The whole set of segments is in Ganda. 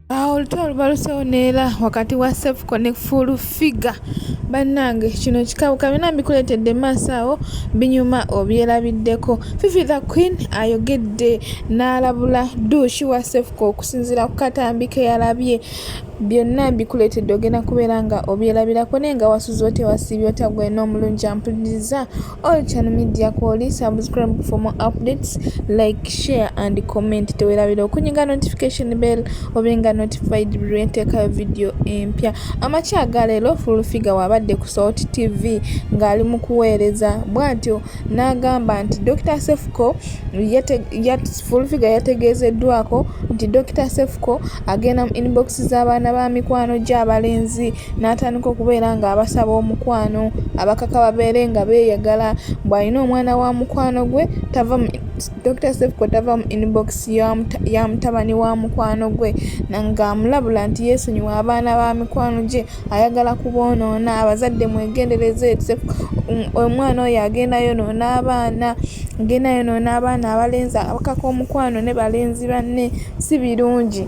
awo olutwe olubalusewo neera wakati wa sefuko ne full figure bannange kino kikabuka byona mbikuleetedde maaso awo binyuma obyerabiddeko fifi the queen ayogedde n'alabula duushi wa sefuko okusinziira ku katambi ke yalabye byonna mbikuleetedde ogenda kubeera nga obyerabirako naye nga wasuze otewasiibye otagwena omulungi ampuliza All channel media kwoli subscribe for more updates like share and comment tewerabira okunyiga notification bell obenga notified buli lwenteekayo video empya amakya aga leero full figure wabadde ku salt tv ng'ali mu kuweereza bw'atyo n'agamba nti dr sefuko full figure yategeezeddwako nti dr sefuko agenda mu inbox z'abaana ba mikwano gy'abalenzi n'atandika okubeera ng'abasaba omukwano abakaka babeere nga beeyagala bw'alina omwana wa mukwano gwe tava dr sefko tava mu inbox ya mutabani wa mukwano gwe ng'amulabula nti yeesonyiwa abaana ba mikwano gye ayagala kuboonoona abazadde mwegendereze um, omwana oyo agenda yonoona abaana agenda yonoona abaana abalenzi abakaka omukwano ne balenzi banne si birungi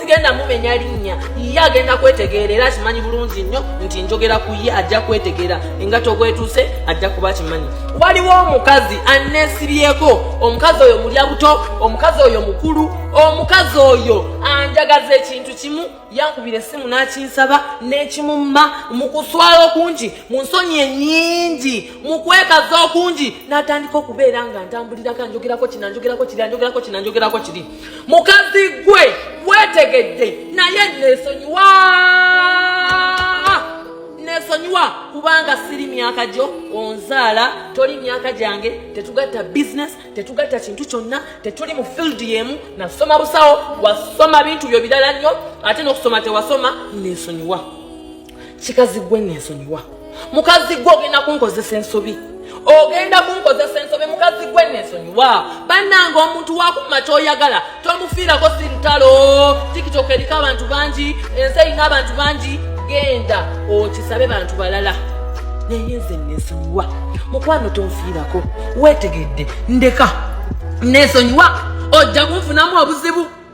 sigenda mumenya linnya ye agenda kwetegeera era akimanyi bulungi nnyo nti njogera ku ye ajja kwetegeera engato gwetuuse ajja kuba akimanyi waliwo omukazi anesibyeko omukazi oyo mulya buto omukazi oyo mukulu omukazi oyo anjagaza ekintu kimu yankubira essimu n'akinsaba n'ekimumma mu kuswala okungi mu nsonyi enyingi mu kwekaza okungi n'atandika okubeera nga ntambulirako anjogerako kinanjogerako kiri anjogerako kinanjogerako kiri mukazi gwe wetegedde naye nesonyiwa nesonyiwa kubanga siri myaka gyo onzaala toli myaka gyange tetugatta bisiness tetugatta kintu kyonna tetuli mu field yemu nasoma busawo wasoma bintu byo birala nnyo ate nokusoma tewasoma nesonyiwa kikazi gwe nensonyiwa mukazi gwe ogenda kunkozesa ensobi ogenda kunkozesa ensobi mukazi gwe nensonyiwa bannanga omuntu wakuma kyoyagala tomufiirako si lutalo tikitoka eriko abantu bangi ensi erina abantu bangi genda okisabe bantu balala naye nze nesonyiwa mukwano tonfiirako wetegedde ndeka nesonyiwa ojja kunfunamu obuzibu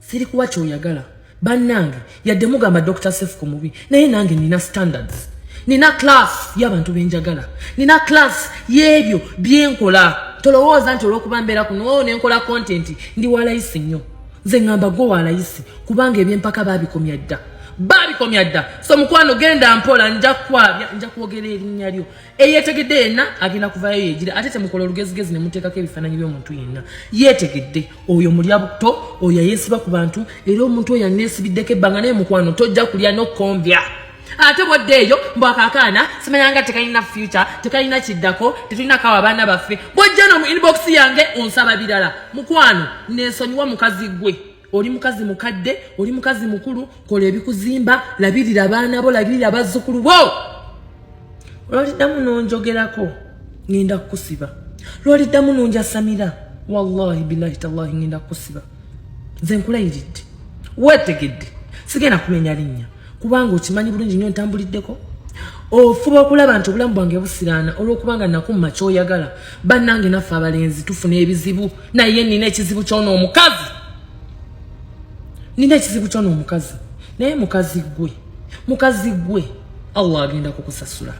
siri kuwa kyoyagala bannange yadde mugamba dr sef ku mubi naye nange nina standards nina class y'abantu benjagala nina class y'ebyo byenkola tolowooza nti olwokuba mbeera kuno oh, nenkola content ndi walayisi nnyo nze ŋŋamba gwe walayisi kubanga ebyempaka baabikomya dda baabikomya dda so mukwano genda mpola nja kwabya nja kwogera erinnya lyo eyetegedde yenna agenda kuvayo yegire ate temukola olugezigezi nemuteekako ebifaananyi by'omuntu yenna yetegedde oyo mulya butto oyo ayeesiba ku bantu era omuntu oyo aneesibiddeko ebbanga naye mukwano tojja kulya n'okukombya ate bwadde eyo mbwakakaana simanyanga tekalina future tekalina kiddako tetulina kawa abaana baffe bwajja no mu inbox yange onsaba birala mukwano nensonyiwa mukazi gwe oli mukazi mukadde oli mukazi mukulu kola ebikuzimba labirira abaana bo labirira abazzukulu bo lwaliddamu nonjogerako ngenda kukusiba lwaliddamu nonjasamira wallahi bilahi tallahi ngenda kukusiba nze nkulayiridde wetegedde sigenda kumenya linnya kubanga okimanyi bulungi nyo ntambuliddeko ofuba okulaba nti obulamu bwange busiraana olwokubanga nakumma kyoyagala bannange naffe abalenzi tufuna ebizibu naye nina ekizibu kyona omukazi nina ekizibu kyona omukazi naye mukazi gwe mukazi gwe allah agenda kukusasula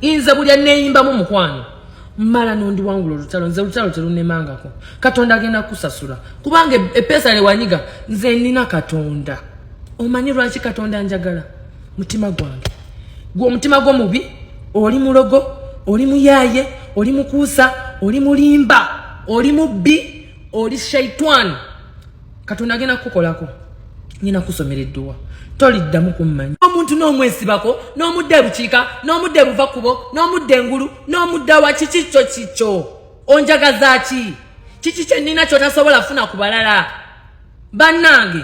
inze buli aneyimbamu mukwano mmala n'ondiwangula olutalo nze olutalo terunemangako katonda agenda kukusasula kubanga e-, epeesa lewanyiga nze nina katonda omanyi lwaki katonda njagala mutima gwange gwe omutima gwo mubi oli mulogo oli muyaye oli mukuusa oli mulimba oli mubbi oli shaitwani katonda agenda kukukolako ngenda kusomera edduwa toliddamu kummanya omuntu n'omwesibako n'omudda ebukiika n'omudda ebuva kubo n'omudda engulu n'omudda wa kiki kyo kikyo onjagaza ki kiki kyennina kyotasobola funa ku balala bannange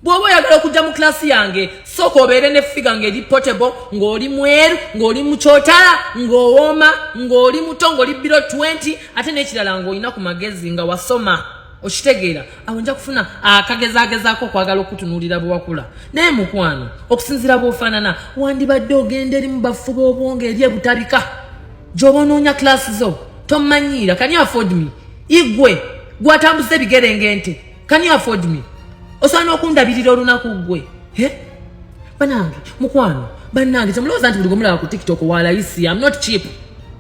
bw'oba oyagala okujja mu kilasi yange sooka obeere ne figa ng'eri potable ng'oli mweru ng'oli mukyotala ng'owooma ng'oli muto ng'oli biro 20 ate n'ekirala ng'olina ku magezi nga wasoma okitegeera awo nja kufuna akagezagezaako okwagala okutunuulira bwewakula naye mukwano okusinzira bwofaanana wandibadde ogenda erimu bafuba obwongo eri ebutabika gyoba onoonya kilasi zo tomanyiira kani afford me igwe gwatambuza ebigere ngente kani afford me osobola n'okundabirira olunaku gwe banange mukwano banange temulowooza nti buli gwemulaba ku tiktok walayisi am not cheap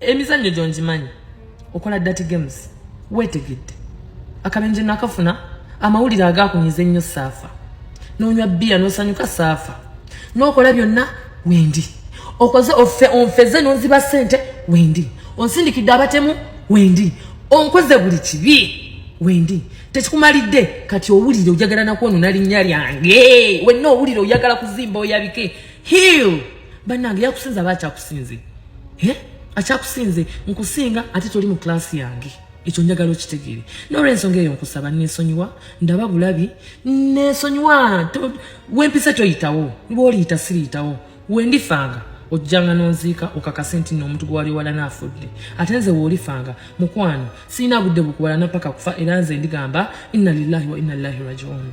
emizannyo gyo ngimanyi okola dati games weetegedde akabenje nakafuna amawulire agakunyiza ennyo saafa nonywa bbiya nosanyuka saafa nokola byonna wendi okoze ofe onfeze nonziba sente wendi onsindikidde abatemu wendi onkoze buli kibi wendi tekikumalidde kati owulire ojagala nakwonona linnya lyange wenna owulire oyagala kuzimba oyabike hill banange yakusinza aba akyakusinze eh? akyakusinze nkusinga ate toli mu klaasi yange ekyo njagala okitegere nolwensonga eyo nkusaba nesonyiwa ndaba bulabi nesonyiwa wempisa toyitawo lwoliyita siriyitawo wendifanga ojjanga nonziika okakase nti no omuntu gwewali ewala naafudde ate nze woolifanga mukwano sirina budde bukuwalana paka kufa era nze ndigamba inna lillahi wa inna lillahi rajiun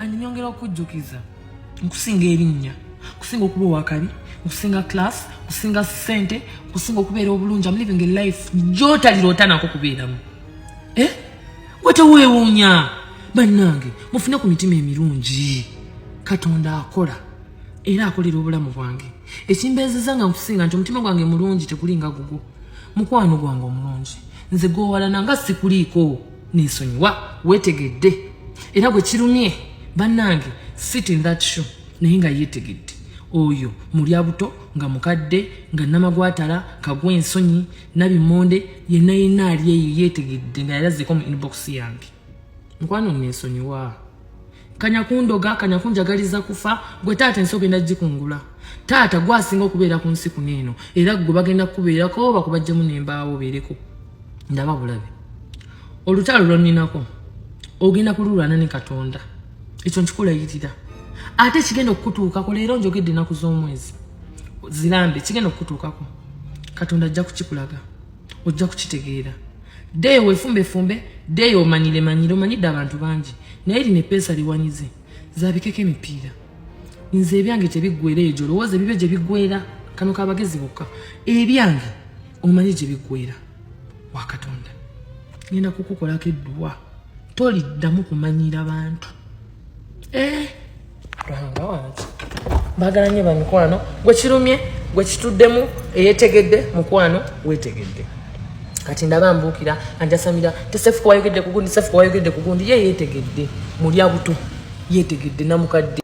and nyongera okujjukiza nkusinga erinnya nkusinga okuba owakabi nkusinga class nkusinga sente nkusinga okubeera obulungi am living a life gyotalirotanako kubeeramu eh? wetewewuunya bannange mufune ku mitima emirungi katonda akola era akolera obulamu bwange ekimbeezeza nga nkusinga nti omutima gwange mulungi tegulinga gugwo mukwano gwange omulungi nze gwowalananga sikuliiko nensonyiwa wetegedde era gwe kirumye bannange sit in that show naye nga yetegedde oyo mulya buto nga mukadde nga namagwatala kagwa ensonyi nabimonde yena yena ali eyo yetegedde nga yalazeeko mu inbox yange mukwano nensonyiwa kanya kundoga kanya kunjagaliza kufa gwe taata ensi ogenda gikungula taata gwasinga okubeera ku nsi kuno eno era gwe bagenda kukubeerako bakubajjemu nembaawo obeereko ndaba bulabe olutalo lwoninako ogenda kululwana ne katonda ekyo nkikulayirira ate ekigenda okukutuukako leero njogedde enaku z'omwezi zirambe kigenda okukutuukako katonda ajja kukikulaga ojja kukitegeera ddeeyo wefumbefumbe ddeeyo omanyire manyire omanyidde abantu bangi naye lino epeesa liwanyize zabikeko emipiira nze ebyange tebiggwera eyo gyolowooza ebibyo gye biggwera kano kabagezi bokka ebyange omanyi gye biggwera wakatonda ngenda kukukolako edduwa toliddamu kumanyira bantu lwanga eh, wange bagala nyo bamikwano gwe kirumye gwe kituddemu eyetegedde mukwano wetegedde kati ndaba mbuukira anjasamira tesefuka wayogedde kugundi sefuka wayogedde kugundi ye yetegedde mulya buto yetegedde namukadde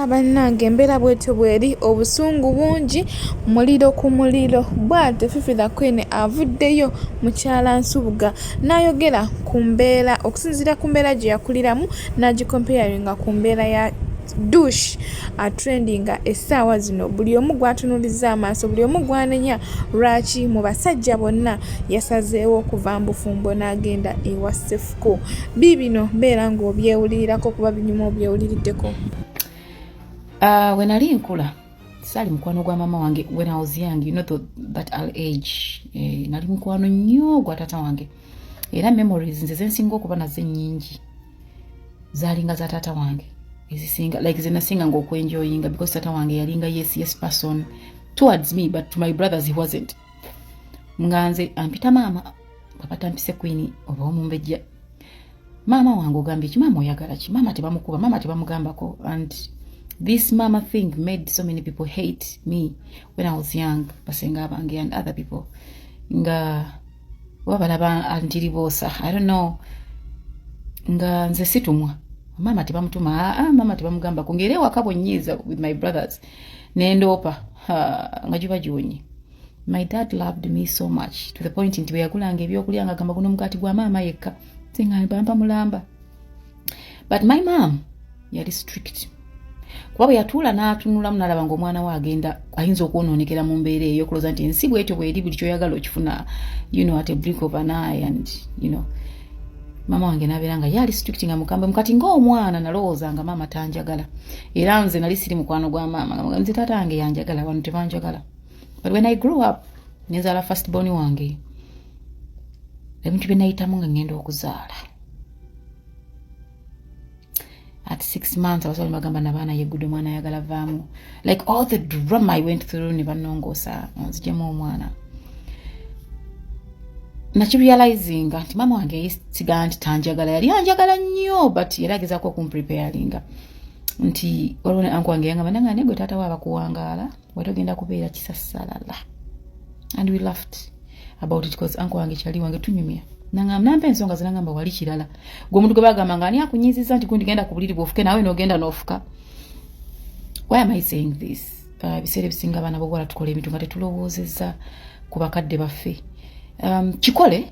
bannange embeera bwetyo bweri obusungu bungi muliro ku muliro bwate fifi the queen avuddeyo mukyala nsubuga n'ayogera ku mbeera okusinziira ku mbeera gye yakuliramu n'agikompeyaringa ku mbeera ya dush atrendinga essaawa zino buli omu gwatunuliza amaaso buli omu gwanenya lwaki mu basajja bonna yasazeewo okuva mbufumbo n'agenda ewa sefuko biibino mbeera ng'obyewulirirako kuba binyuma obyewuliriddeko ah, we nali nkula sali mukwano gwa mama wange when i was young you know the, that al age eh, nali mukwano nnyo gwa tata wange era memories nze zensinga okuba nazo ennyingi zalinga za tata wange ezisinga like zenasinga nga okwenjoyinga because tata wange yalinga yes yes person towards me but to my brothers he wasn't nga nze ampita maama bapatampise kwini oba omumbejja maama wange ogambye ki maama oyagala ki maama tebamukuba maama tebamugambako and this mama thing made so many people hate me when i was young basenga abange and other people nga oba balaba antiriboosa i don't know nga nze situmwa maama tebamutuma aa ah, ah, maama tebamugambako ngaera ewaka bwenyiiza with my brothers nendoopa nga giba giwonye my dad loved me so much to the point nti bweyagulanga ebyokulya nga gamba guno omugaati gwa maama yekka singa mpampa mulamba but my mom yali strict kuba bwe yatuula n'atunulamu n'alaba nga omwana we agenda ayinza okwonoonekera mu mbeera eyo okuloza nti ensi bwetyo bweri buli kyoyagala okifuna you know at a blink of an eye and you know maama wange nabeera nga yaali strict nga mukambwe mukati ngaomwana nalowooza nga maama tanjagala era nze nali siri mukwano gwa maama nga nze taata wange yanjagala wano tebanjagala but when i grew up nenzala first born wange ebintu bye nayitamu nga ngenda okuzaala at six months abasawo bagamba nabaana yegude omwana ayagala vaamu like all the drama i went through ne banongoosa nzijemu omwana nakirealizinga nti maama wange yesiga nti tanjagala yali anjagala nnyo but yali agezaako okumpreparinga nti waliwo ne anku wange yangamba nanga negwe taata wo abakuwangaala wali ogenda kubeera kisasalala and we laughed about it because anko wange kyali wange tunyumya nampa ensonga zinagamba wali kirala gwe omuntu gwe bagamba nga ani akunyiziza nti gundigenda ku buliri bwofuke nawe nogenda nofuka why am i saying this uh, ebiseera uh, ebisinga abaana bobuwala tukola ebintu nga tetulowoozeza ku bakadde baffe um, kikole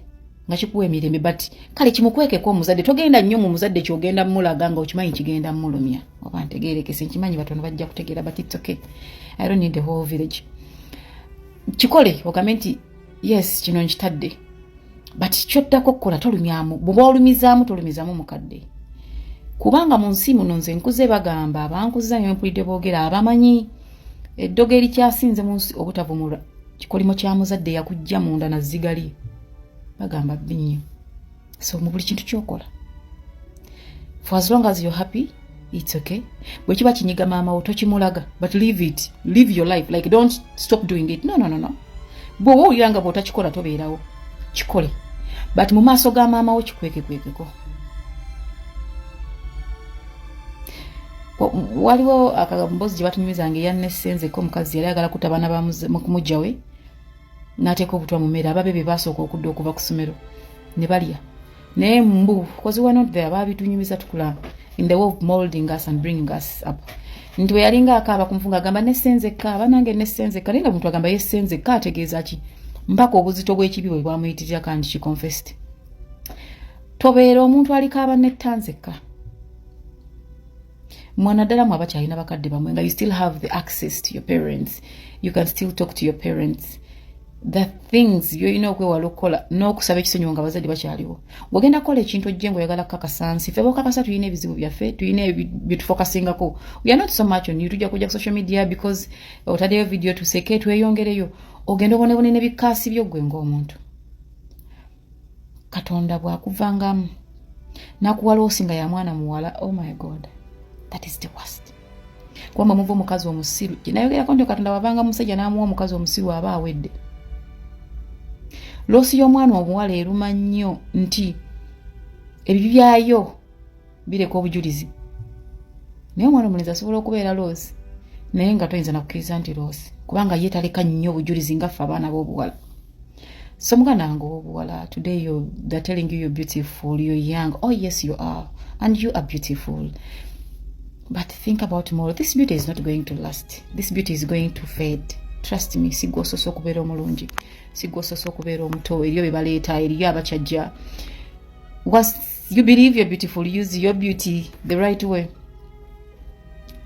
nga kikuwa emirembe but kale kimukwekeko omuzadde togenda nnyo mu muzadde kyogenda mulaga nga okimanyi kigenda mulumya oba ntegerekese nkimanyi batono bajja kutegeera but its okay i don't need the whole village kikole ogambe nti yes kino nkitadde but kyoddako okukola tolumyamu bwoba olumizaamu tolumizaamu mukadde kubanga mu nsi muno nze nkuze bagamba abankuza nyo mpulidde boogera abamanyi eddogo erikyasinze mu nsi obutavumula kikolimo kya muzadde yakujja munda na zigali bagamba bbi nnyo so mu buli kintu kyokola for as long as you're happy it's okay bwe kiba kinyiga maama wo tokimulaga but live it live your life like don't stop doing it no no no no bwoba owulira nga bwotakikola tobeerawo kikole but mu maaso ga maama wo kikwekekwekeko waliwo akambozi gye batunyumizanga eyannesenzeko omukazi yali agala kuta baana bamukumujjawe n'ateeka obutwa mu mmere ababe be baasooka okudda okuva ku ssomero ne balya naye mbu kozi wa not there baabitunyumiza tukula in the way of molding us and bringing us up nti bwe yalinga akaaba ku nfunga agamba nessenzekka banange nessenzekka naye nga muntu agamba yessenzekka ategeeza ki mpaka obuzito bw'ekibi bwe bwamuyitirira kandi kiconfest tobeera omuntu alikaaba nettanzekka mwana ddala mwe abakyalina bakadde bamwe nga you still have the access to your parents you can still talk to your parents the things byolina okwewala okukola n'okusaba ekisonyiwo nga abazadde bakyaliwo ng'ogenda kukola ekintu ojje nga oyagala kukakasa nsi fe bokakasa tulina ebizibu byaffe tulina byetufokasingako weare not so much on you tujja kujja ku social media because otaddeyo vidiyo tuseke tweyongereyo ogenda obonebone ne bikaasi byo ggwe ng'omuntu katonda bwakuvangamu nakuwa loosi nga ya mwana muwala oh my god that is the worst kubanga muva omukazi omusiru gyenayogerako nti katonda wavanga musajja namuwa omukazi omusiru aba awedde loosi y'omwana omuwala eruma nnyo nti ebibi byayo bireka obujulizi naye omwana omulenzi asobola okubeera loosi naye nga toyinza nakukkiriza nti loosi kubanga ye taleka nnyo obujulizi nga ffe abaana b'obuwala so muganda wange owobuwala today you, they're telling you you're beautiful you're young oh yes you are and you are beautiful but think about tomorrow this beauty is not going to last this beauty is going to fade trust me sigwa osoose okubeera omulungi sigwa osoose okubeera omuto eriyo bye baleeta eriyo abakyajja you believe you're beautiful use your beauty the right way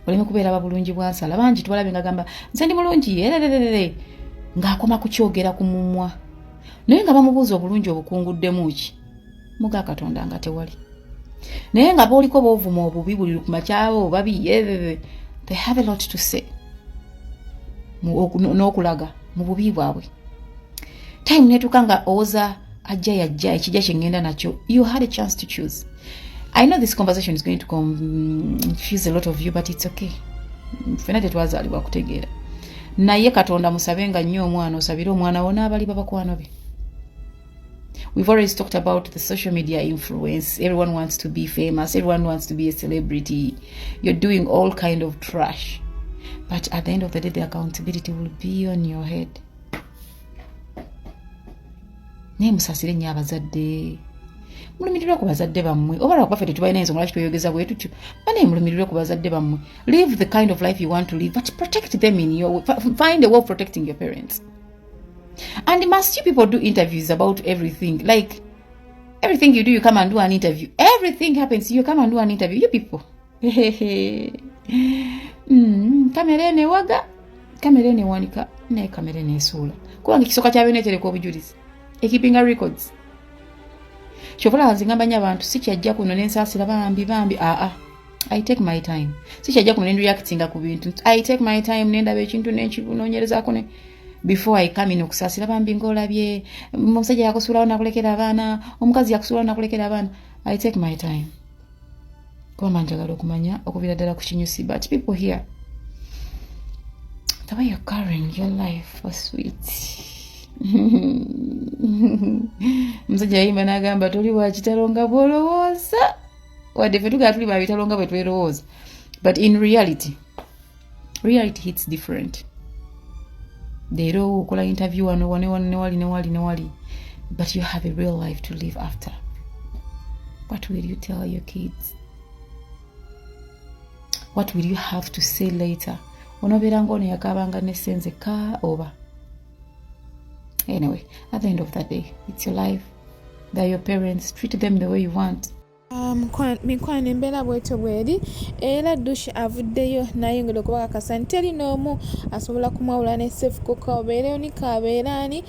oleme kubeera babulungi bwansala bangi twalabe nga gamba nze ndi mulungi erererere ng'akoma kukyogera ku mumwa naye nga bamubuuza obulungi obukunguddemu ki muga katonda nga tewali naye nga booliko boovuma obubi buli lukumakyawo obabi ererere they have a lot to say n'okulaga mu bubi bwabwe time netuuka nga owoza ajja yajja ekijja kyengenda nakyo you had a chance to choose i know this conversation is going to confuse a lot of you but it's okay fena tetwazalibwa kutegeera naye katonda musabe nga nnyo omwana osabire omwana wo n'abali babakwano be We've always talked about the social media influence. Everyone wants to be famous. Everyone wants to be a celebrity. You're doing all kind of trash. But at the end of the day, the accountability will be on your head. naye musasire nyo abazadde mulumirirwe ku bazadde bammwe oba lwakuba ffe tetubalina ensonga lwaki tweyogeza bwe tutyo banaye mulumirirwe ku bazadde bammwe live the kind of life you want to live but protect them in your find a way of protecting your parents And must you people do interviews about everything? Like, everything you do, you come and do an interview. Everything happens, you come and do an interview. You people. mm, kamera enewaga kamera enewanika naye kamera enesuula kubanga ekisooka kya byona etereka obujulizi ekipinga records kyovola nze ngamba nyo abantu sikyajja kuno nensaasira bambi bambi aa ah, ah. I take my time. Sikyajja kuno nendireactinga ku bintu. I take my time nendaba ekintu nenkibunonyerezaako ne before I come in okusaasira bambi ng'olabye omusajja yakusuulawo nakulekera abaana omukazi yakusuulawo nakulekera abaana. I take my time. Kuba manjagala okumanya okubira ddala ku kinyusi but people here the way you're carrying your life for sweet. Omusajja yayimba n'agamba toli wa kitalo nga bw'olowooza. wadde fe tugala tuli babitalo nga bwe twerowooza but in reality reality hits different leero okola interview wano wanewali newali newali newali but you have a real life to live after what will you tell your kids what will you have to say later onobeera ngaono yakaabanga nesenze ka oba Anyway, at the end of the day, it's your life. They're your parents. Treat them the way you want. mikwano embeera bwetyo bweri era dush avuddeyo nayongera okubakakasa nti teri n'omu asobola kumwawula ne sefukuka obeera onika abeera ani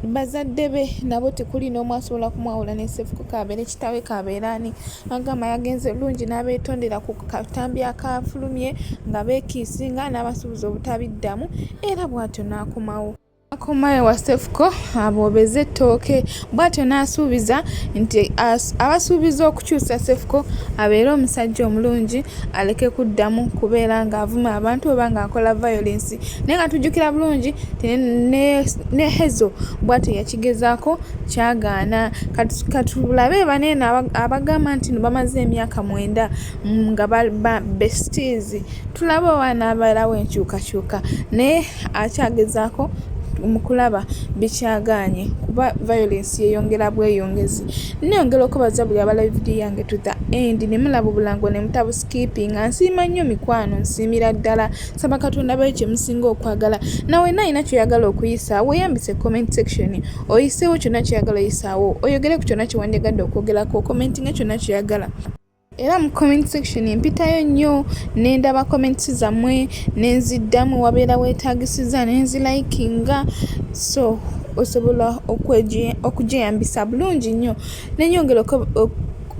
bazadde be nabo tekuli n'omu asobola kumwawula ne sefukuka abeere kitawe kabeera ani agamba yagenze bulungi n'abeetondera ku katambi akaafulumye nga beekiisinga n'abasuubuza obutabiddamu era bw'atyo n'akomawo akoma ewa sefuko aboobeze ettooke bw'atyo n'asuubiza nti abasuubiza okukyusa sefuko abeere omusajja omulungi aleke kuddamu kubeera ng'avuma abantu oba ng'akola violensi naye nga tujjukira bulungi ne hezo bw'atyo yakigezaako kyagaana katulabe baneeno abagamba nti no bamaze emyaka mwenda Mm, nga ba besties tulaba oba anaabalawo enkyukakyuka naye akyagezaako mu kulaba bikyagaanye kuba violence yeyongera bweyongezi neyongera okubaza buli abalabi vidiyo yange to the end ne mulaba obulango ne mutabuskipinga nsiima nnyo mikwano nsiimira ddala saba katonda bayo kye musinga okwagala nawe nalina kyoyagala okuyisa weyambise comment section oyiseewo kyonna kyoyagala oyisaawo oyogere ku kyonna kye wandyagadde okwogerako commentinga kyonna kyoyagala era mu comment section mpitayo nnyo nendaba comments zammwe nenziddamu wabeera wetagisiza nenzilayikinga so osobola okujeyambisa bulungi nnyo nenyongera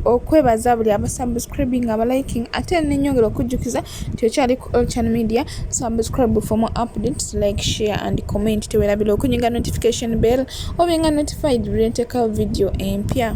okwebaza buli abasubscribing abaliking ate nenyongera okujjukiza nti okyali ku olchan media subscribe for more updates like share and comment tewerabira okunyiga notification bell obenga notified buli ntekawo video empya